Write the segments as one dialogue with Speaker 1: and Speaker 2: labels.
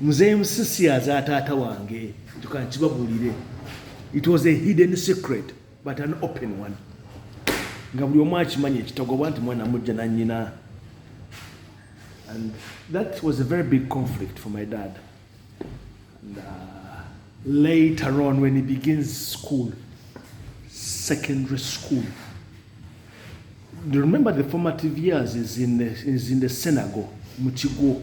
Speaker 1: Mzee Musisi aza taata wange ntuka nkibabuulire it was a hidden secret but an open one nga buli omu akimanyi ekitagobwa nti mwana mujja nanyina and that was a very big conflict for my dad and, uh, later on when he begins school secondary school remember the formative years is in the, is in the synagogue mu kigwo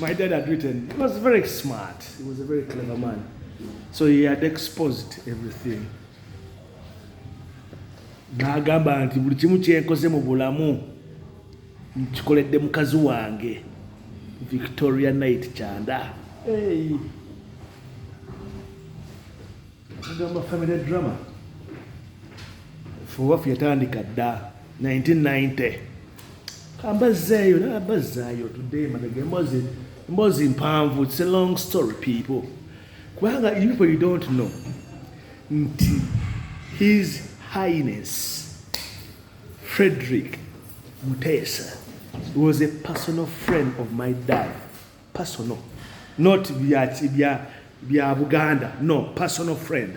Speaker 1: My dad had written, he was very smart, he was a very clever man. So he had exposed everything. N'agamba nti buli kimu kyenkoze mu bulamu nkikoledde mukazi wange Victoria Knight Kyanda. Hey. Agamba family drama. Fuwafu yatandika dda. 1990 kambazzeeyo nabazzaayo tudde emabega emboozi emboozi mpanvu its a long story people kubanga people you don't know nti his highness frederick muteesa was a personal friend of my dad personal not bya bya bya buganda no personal friend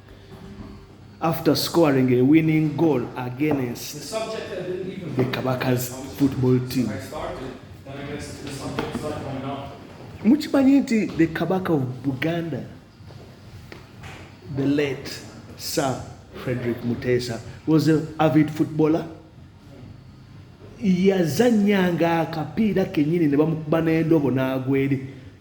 Speaker 1: after scoring a winning goal against the Kabaka's football team. mukimanyi nti the kabaka of buganda the late sir frederick mutesa was an avid footballer yazanyanga akapiira kenyini ne bamukuba n'endobo n'agweri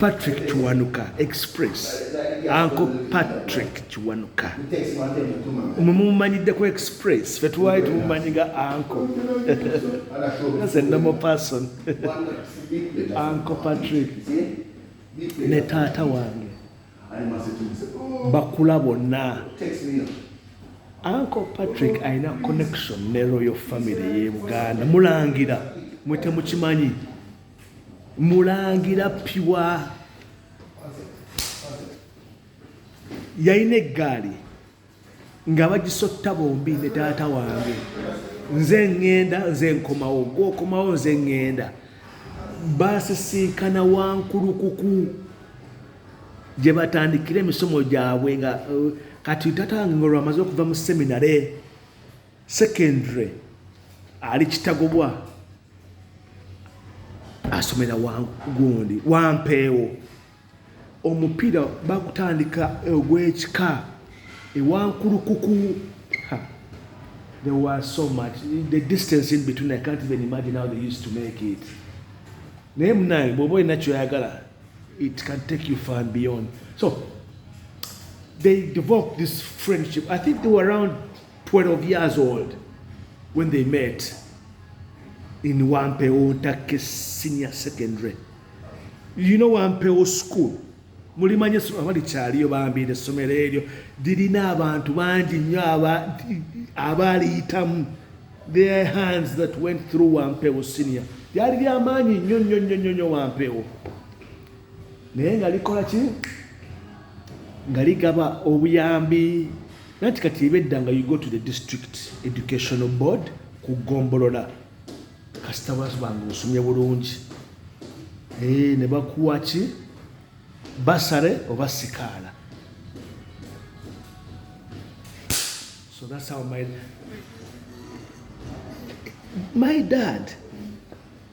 Speaker 1: Patrick Kiwanuka Express anko Patrick Kiwanuka mwe mumumanyidde ku Express fe tuwaali tumumanyi nga anko as a normal person anko Patrick ne taata wange bakula bonna anko Patrick alina connection ne royal family ye Buganda mulangira mwe temukimanyi mulangira piwa yalina eggaali nga bagisotta bombi ne taata wange nze ŋŋenda nze nkomawo gwokomawo nze ŋŋenda basisinkana wankulukuku gye batandikira emisomo gyabwe nga uh, kati tata wange nga olwamaze okuva mu seminare secondary ali kitagobwa asomera gundi wampeewo omupiira bakutandika ogwekika ewankulukuku there was so much the distance in between i can't even imagine how they used to make it naye munaye bwoba olina kyoyagala it can take you far and beyond so they developed this friendship i think they were around 12 years old when they met in Wampewo Take Senior Secondary. You know Wampewo School. Mulimanye abali kyaliyo bambi n'essomero eryo lirina abantu bangi nnyo abaaliyitamu their hands that went through Wampewo Senior. Lyali lya maanyi nnyo nnyo nnyo nnyo nnyo Wampewo naye nga likola ki nga ligaba obuyambi Nanti kati ibedda nga you go to the district educational board ku gombolola kasita basbanga osomye bulungi eh, ne bakuwa ki basare oba sikaala so that's how my my dad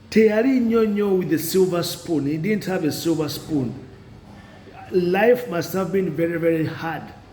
Speaker 1: teyali nnyo nnyo with a silver spoon he didn't have a silver spoon life must have been very very hard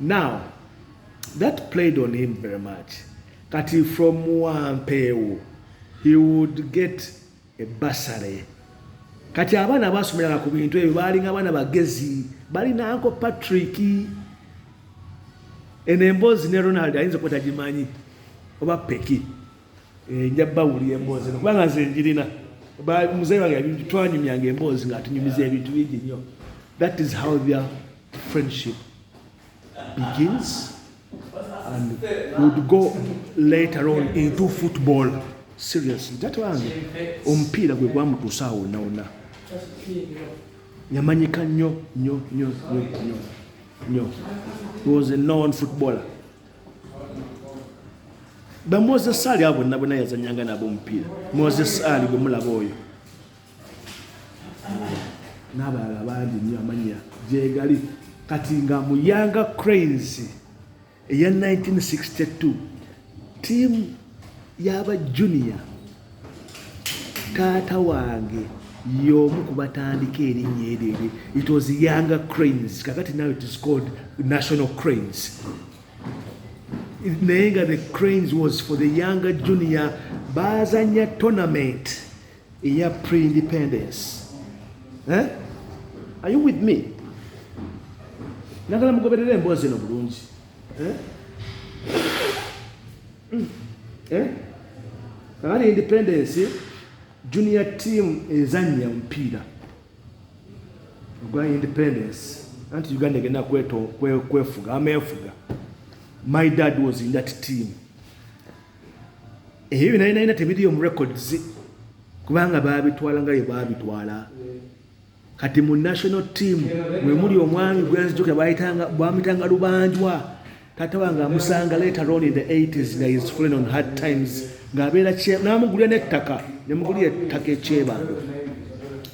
Speaker 1: now that played on him very much kati from wampeewo he would get a bursary kati abaana basomeranga ku bintu ebyo baalinga abaana bagezi balina anko patrick eno emboozi ne ronald ayinza kuba tagimanyi oba peki eh, nja bawulira emboozi no kubanga nze njirina muzeeyi wange twanyumyanga emboozi ngaatunyumiza ebintu bingi nnyo that is how their Friendship begins and would go later on into football. Seriously, that one omupiira gwe gwamutuusa awo nawona yamanyika nnyo nnyo nnyo nnyo nnyo he was a known footballer bamoses ali abo nabona yazanyanga nabo omupiira moses ali gwe mulaba oyo n'abalala bangi nnyo amannya gyegali kati nga mu yanga cranes eya 1962 tiimu y'aba junior taata wange y'omu ku batandika erinnya eryo eryo it was younger cranes kakati now it is called national cranes naye nga the cranes was for the younger junior baazanya tournament eya pre-independence eh? are you with me nagala mugoberera embwa zino bulungi eh? Mm. eh? kakati independence junior team ezanya omupiira ogwa independence anti uganda egenda kwefuga amefuga my dad was in that team ebyo binainayina tebiriyo mu records kubanga babitwala nga bye babitwala kati mu national team mwemuli omwami gwenzijukira bayitanga bwamitanga lubanjwa tata wange amusanga later on in the 80s nga is falling on hard times ng'abeera namugulira n'ettaka nemugulira ettaka ekyebando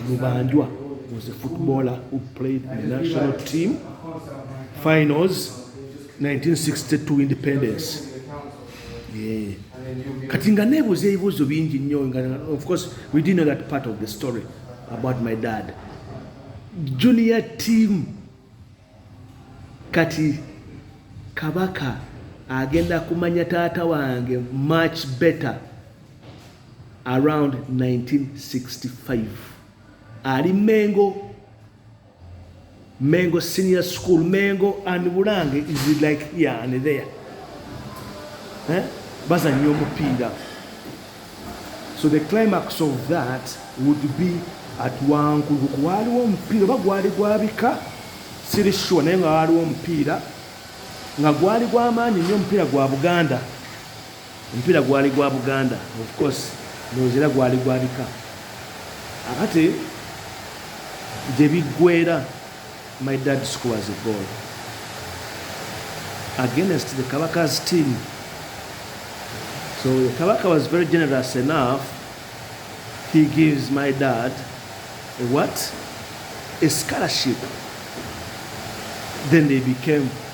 Speaker 1: lubanjwa was a footballer who played in the national team finals 1962 independence Eh. kati nga nebuuza ebibuuzo bingi nnyo of course we didn't know that part of the story about my dad junior team kati kabaka agenda kumanya taata wange much better around 1965 ali mengo Mengo senior school Mengo and Bulange is like here and there eh? bazannya omupiira so the climax of that would be at wankulu waaliwo omupiira oba gwali gwabika siri sure naye nga waaliwo omupiira nga gwali gwamaanyi nnyo omupiira gwa buganda Omupiira gwali gwa Buganda of course ndowooza era gwali gwa bika akate gye biggweera my dad scores a goal against the Kabaka's team so the Kabaka was very generous enough he gives my dad a what a scholarship then they became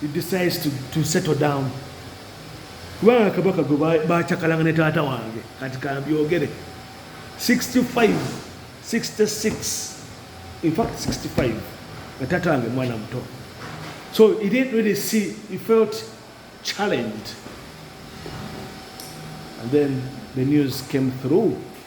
Speaker 1: he decides to, to settle down kubanga kabaka gwe bacakalanga ne taata wange kati kambyogere 65 66 in fact 65 nga taata wange mwana muto so he didn't really see he felt challenged and then the news came through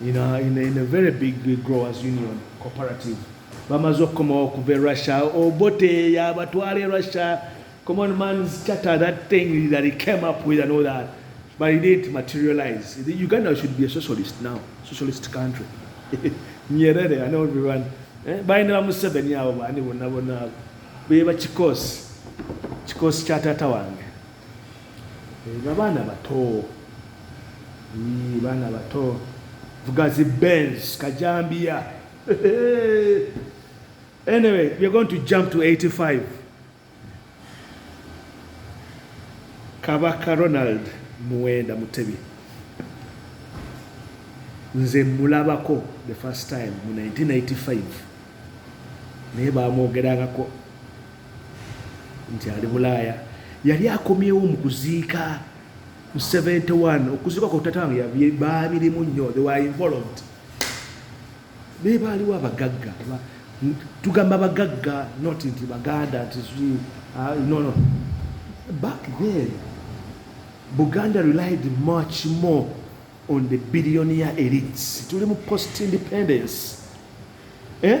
Speaker 1: in a, in a, in a very big growers union cooperative bamaze okukomawo okuva e russia obote yabatwala e russia common man's charter that thing that he came up with and all that but it didn't materialize the uganda should be a socialist now socialist country nyerere and everyone eh, balina bamuseveni abo bani bonna bonna abo beba kikosi kikosi kya taata wange Eno abaana bato yii baana bato vuga zi benz kajambiya anyway we're going to jump to 85 kabaka ronald muwenda mutebi nze mulabako the first time mu 1985 naye bamwogerangako nti ali bulaaya yali akomyewo mu kuziika mu 71 okuziika kwa tata wange baabirimu nnyo they were involved naye baaliwo abagagga tugamba bagagga not nti baganda nti ah, no no back then buganda relied much more on the billionaire elites tuli mu post independence eh?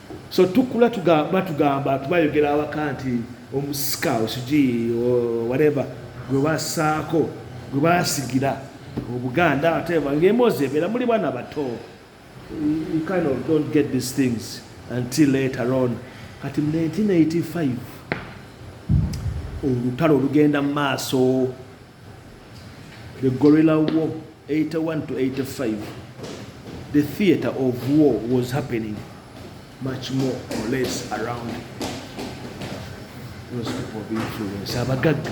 Speaker 1: So tukula batugamba tubayogera awaka nti omusika osugi whatever gwe basaako gwe basigira obuganda ate ng'emboozi ebeera muli baana bato you kind of don't get these things until later on kati mu 1985 olutalo olugenda mu maaso The Gorilla War 81 to 85 the theater of war was happening much more or less around those people of influence abagagga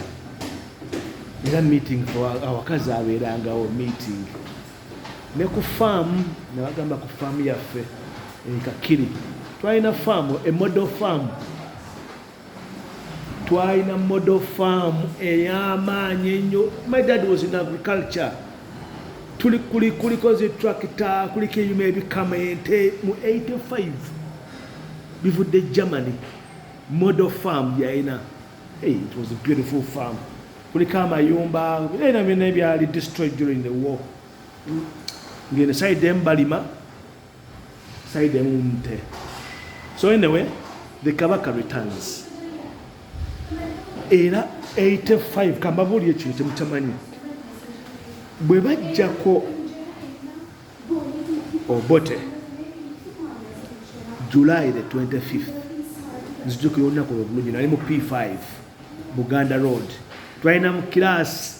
Speaker 1: era meeting awakazi abeerangawo meeting ne ku faamu nabagamba ku faamu yaffe enkakiri twalina faamu emodel faamu twalina model farm ey'amaanyi ennyo my dad was in agriculture tuli kuli kuliko zi tractor kuliko ebyuma ebikama ente mu 85 bivudde germany model farm yalina hey, it was a beautiful farm kuliko amayumba byona byona ebyali destroyed during the war ngene side embalima side emu mute so anyway the kabaka returns era 85 kambabuulire kino kyemutamanyi bwe bajjako obote july the 25th nzijukira olunaku lwebulungi nali mu p5 buganda road twalinamu kiraasi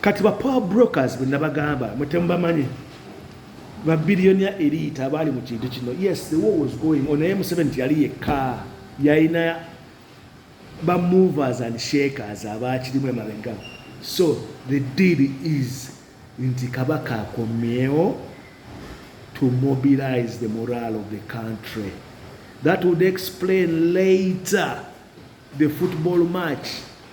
Speaker 1: kati ba power brokers bwe nabagamba mwe temubamanyi ba billionaire elite abaali mu kintu kino yes the war was going on naye museveni teyali yekka yalina ba movers and shakers abaakirimu emabega so the deal is nti kabaka akomyewo to mobilize the morale of the country that would explain later the football match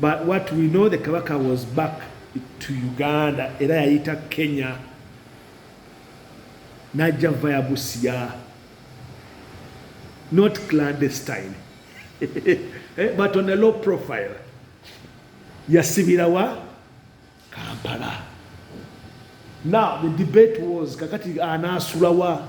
Speaker 1: But what we know the Kabaka was back to Uganda era yayita Kenya najja via Busia not clandestine eh, but on a low profile yasibira wa Kampala now the debate was kakati anaasulawa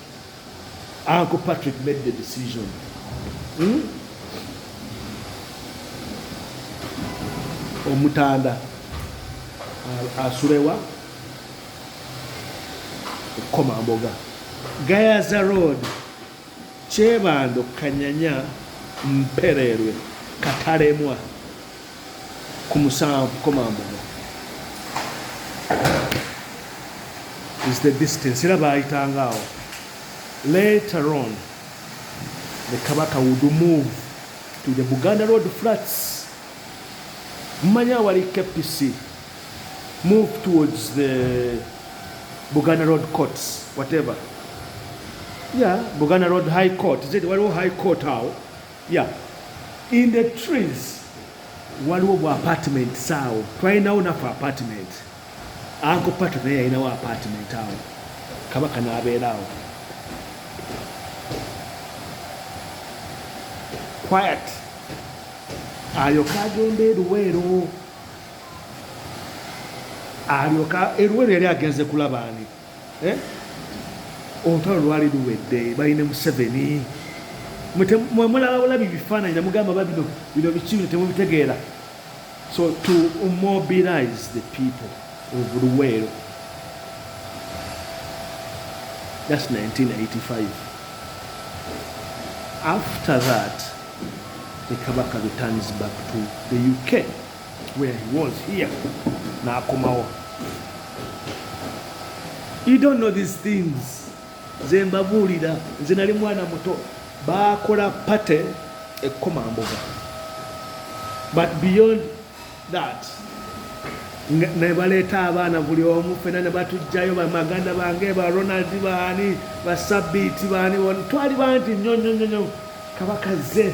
Speaker 1: Uncle Patrick made the decision. Hmm? Omutanda asulewa okukoma mboga gayaza road kyebando kanyanya mpererwe katalemwa ku musanvu koma mbuga is the distance era baayitanga awo later on the kabaka would move to the buganda road flats mmanya awali kpc move towards the buganda road courts whatever yeah buganda road high court zedi waliwo high court awo Yeah. In the trees waliwo bwa apartment saawo twalinawo nafe apartment anko pato naye yalinawo apartment awo kabaka nabeeraawo quiet alyoka agenda eruweero alyoka eruweero yali agenze kulabaani eh? olutalo lwali luwedde bali ne museveni mwemulaba bulabi bifaananyi namugamba ba bino bino biki bino temubitegeera so to mobilize the people of luweero thats 1985 after that the kabaka returns back to the uk where he was here n'akomawo you don't know these things nze mbabuulira nze nali mwana muto baakola pate ekkomamboga but beyond that nebaleeta abaana buli omu fena nebatujjayo bamaganda bange ba ronald baani basabiiti baani twali bangi nyonyonyonyo kabaka ze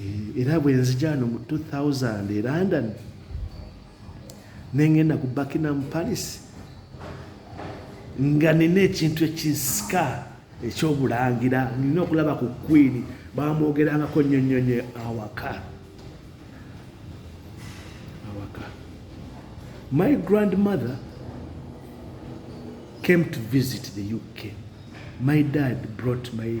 Speaker 1: eh, era bwenzijaano mu 2000 e london nengenda ku buckingham palace nga nina ekintu ekinsika ekyobulangira nina okulaba ku queen bamwogerangako nnyo nnyo nnyo awaka awaka my grandmother came to visit the uk my dad brought my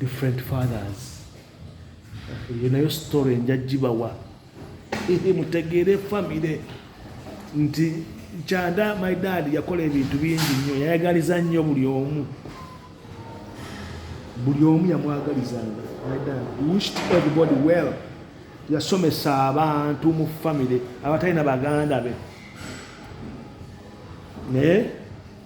Speaker 1: different fathers eyo nayo story nja gibawa mutegeere famire nti kyanda my dad yakola ebintu bingi nnyo yayagaliza nnyo buli omu buli omu yamwagalizanga my dad wished everybody well yasomesa abantu mu famire abatalina baganda be naye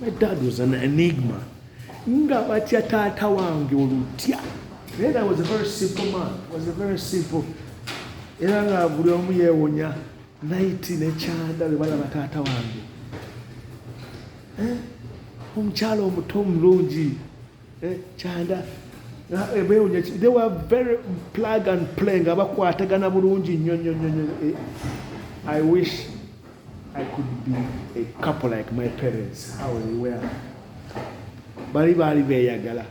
Speaker 1: My dad was an enigma. Nga batya taata wange olutya. Naye that was a very simple man. Was a very simple. Era nga buli omu yeewunya naiti ne kyanda bwe balaba taata wange. Eh? Omukyala omuto omulungi Eh, kyanda eh, bewunya they were very plug and play nga bakwatagana bulungi nnyo nnyo nnyo nnyo eh, i wish i could be a couple like my parents how they were bali baali beyagala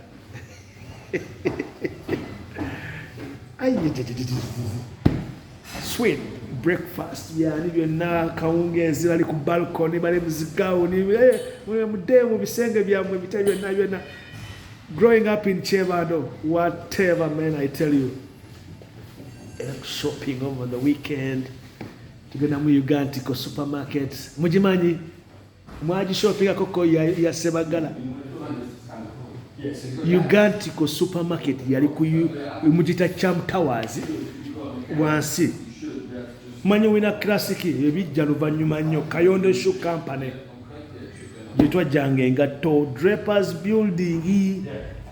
Speaker 1: sweet breakfast yani byonna kawungeezi bali ku balcony bali muzigawuni eh, mudde mu bisenge byammwe bita byonna byonna growing up in chebando whatever man i tell you eh, shopping over the weekend tugenda mu ugantiko supermarket mugimanyi mwagishoppingako ko ya sebagala ugantico supermarket yali mugita cham towers wansi manyi wina classic ebijja luvanyuma nnyo kayondo shu company gyetwajjanga engatto drapers building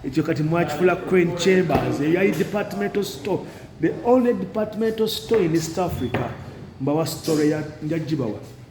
Speaker 1: ekyo kati mwakifula crane chambers eyo yali departmental store the only departmental store in east africa mbawa story ya njagibawa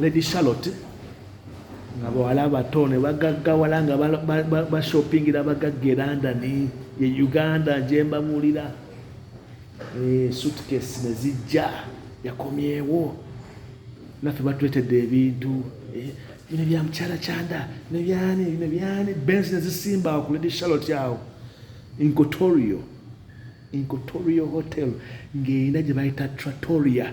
Speaker 1: Lady Charlotte nga bawala abato ne bagaggawala nga bashoppingira abagagga e London ye Uganda gye mbabuulira eh, suitcase ne zijja yakomyewo naffe batuletedde ebintu eh, bino bya mukyala kyanda nebyani bino byani bensi nezisimba awo ku lady charlotte awo incotorio incotorio hotel ng'erina gye bayita tratoria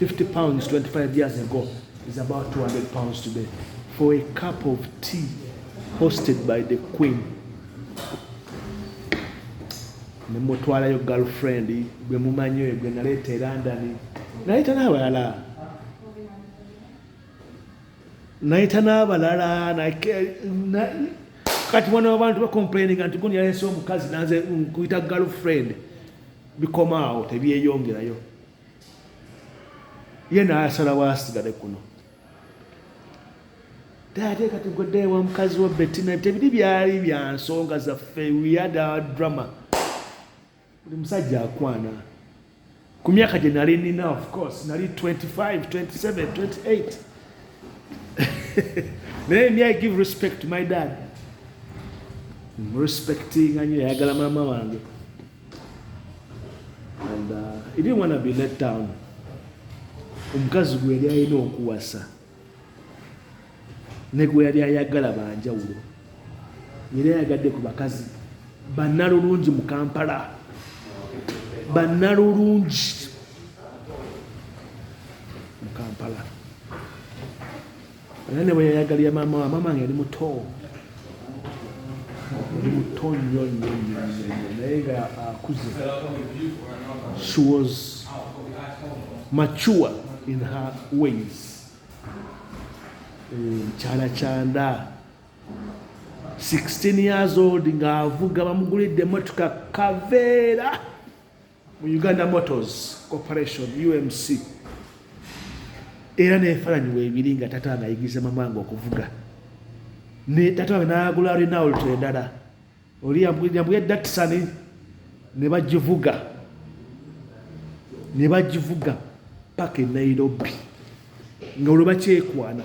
Speaker 1: 50 pounds 25 years ago is about 200 pounds today for a cup of tea hosted by the queen nemutwalayo girlfriend gwe mumanyi oyo gwe naleeta e london naleeta n'abalala naleeta n'abalala kati mwana wabantu bacomplaininga nti guni yaleese omukazi nanze nkuyita girlfriend bikoma awo tebyeyongerayo ye nayasalawo asigale kuno ate kati gwedda ewa mukazi wa betina tebiri byali bya nsonga zaffe weyada drama buli musajja akwana ku myaka gye nali nina of course nali 25 27 28 naye mi i give respect to my dad respectinga nyo yayagala maama wange and uh, he didn't want to be let down omukazi gwe yali alina okuwasa ne gwe yali ayagala banjawulo yali ayagadde ku bakazi bannalulungi mu kampala bannalulungi Era ne bwe yayagalira maama wa maama nga yali muto yali muto nnyo nnyo nnyo naye nga akuze she was mature in her ways mukyala eh, kyanda 16 years old ng'avuga bamugulidde emotoka kaveera mu Uganda Motors Corporation UMC era nefalanyi webiri nga tata wange ayigiriza mamanga okuvuga ne tata wange nagula Renault endala oli yambuya Datsun ne bagivuga ne bagivuga paka e Nairobi nga olwo bakyekwana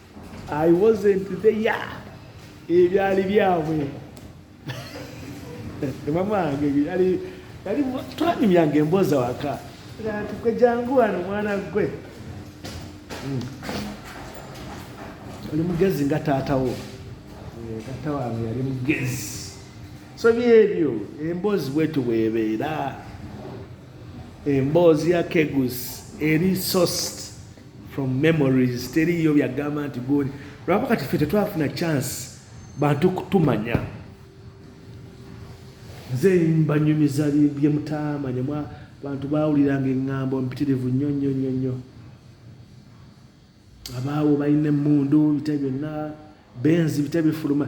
Speaker 1: I wasn't there ebyali byabwe mamwange byali yali twanyumyanga emboozi awaka ati gwe jangu wano mwana gwe hmm. oli mugezi nga taatawo eh, taata wange yali mugezi so byebyo emboozi bwetu bwebeera emboozi ya kegus eri sost from memories teriyo byagamba nti goni lwaba kati fe tetwafuna chance bantu kutumanya nze mbanyumiza byemutamanya bantu bawuliranga engambo mpitirivu nnyo nnyo nnyo nnyo abaawo balina emundu bita byonna benzi bita bifuluma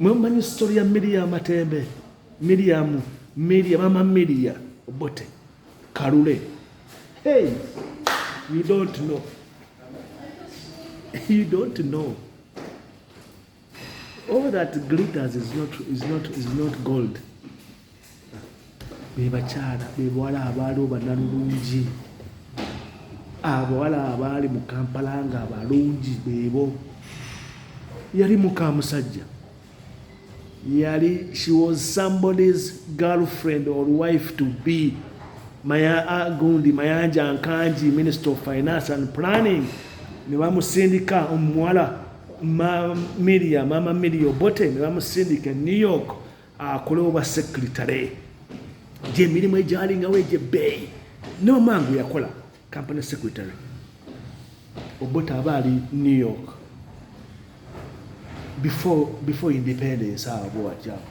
Speaker 1: mwemumanyi story ya miria matembe miriamu miria mama miria obote kalule hey you don't know you don't know all that glitters is not, is not, is not gold bebakyala bebawala abaaliwo banalulungi abawala abaali mu kampala nga abalungi bebo yali mukamusajja yali she was somebody's girlfriend or wife to be maya uh, gundi mayanja nkanji minister of finance and planning nebamusindika omuwala miriya mama miriya obote nebamusindika e new york akole obwa sekritale gyemirimu egyalingawo egyebbeeyi nomangu yakola company secretary obota aba ali new york before, before independence awo bwewakyawo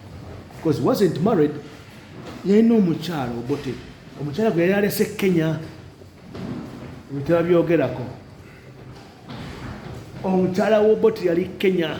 Speaker 1: because wasn't married yalina omukyalo obote omukyala gwe yali alese kenya ebitaba byogerako omukyala woboti yali kenya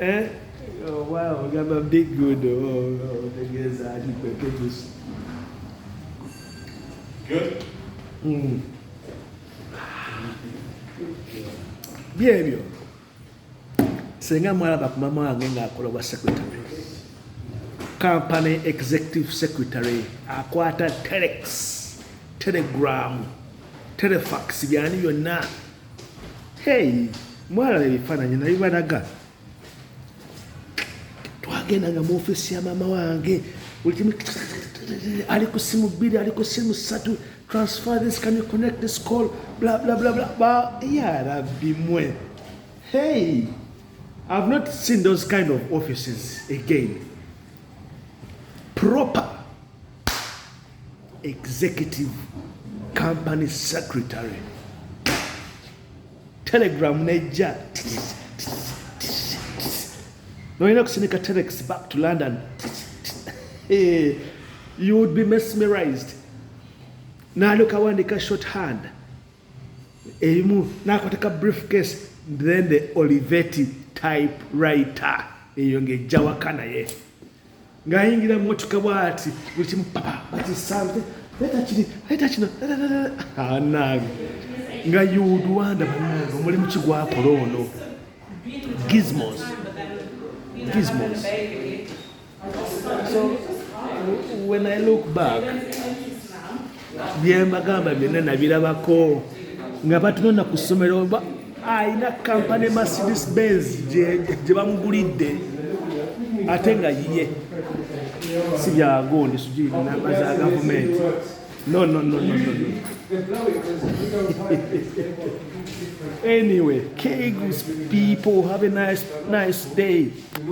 Speaker 1: Eh? Oh, wow, we got a big good. Oh, oh, the girls are the packages.
Speaker 2: Good?
Speaker 1: Mm. byebyo senga mwalaba ku mama wange ng'akola obwa secretary company executive secretary akwata telex telegram telefax byani byonna hey mwalaba ebifaananyi nabibalaga twagenda nga mu ofisi ya maama wange buli kimu ali ku simu bbiri ali ku simu ssatu transfer this can you connect this call bla bla bla bla ba ya rabbi mwe hey i've not seen those kind of offices again proper executive company secretary telegram nejja nolina kusinika telex back to london you would be mesmerized nalyoka wandika short hand erimu nakwateka brief case then the oliveti type writer eyo ngejjawaka naye ng'ayingira mu mmotoka bw'ati buli kimu papa bakisante leeta kiri leeta kino anange nga yuduwanda banange omulimu ki gwakola ono gizmos gizmos so when i look back byembagamba byonna nabirabako nga batunona ku ssomero alina kampany mercedes benz gye bamugulidde ate nga yiye si byagundi sugiri namba za gavumenti nononononono anyway kegos people have a nice, nice day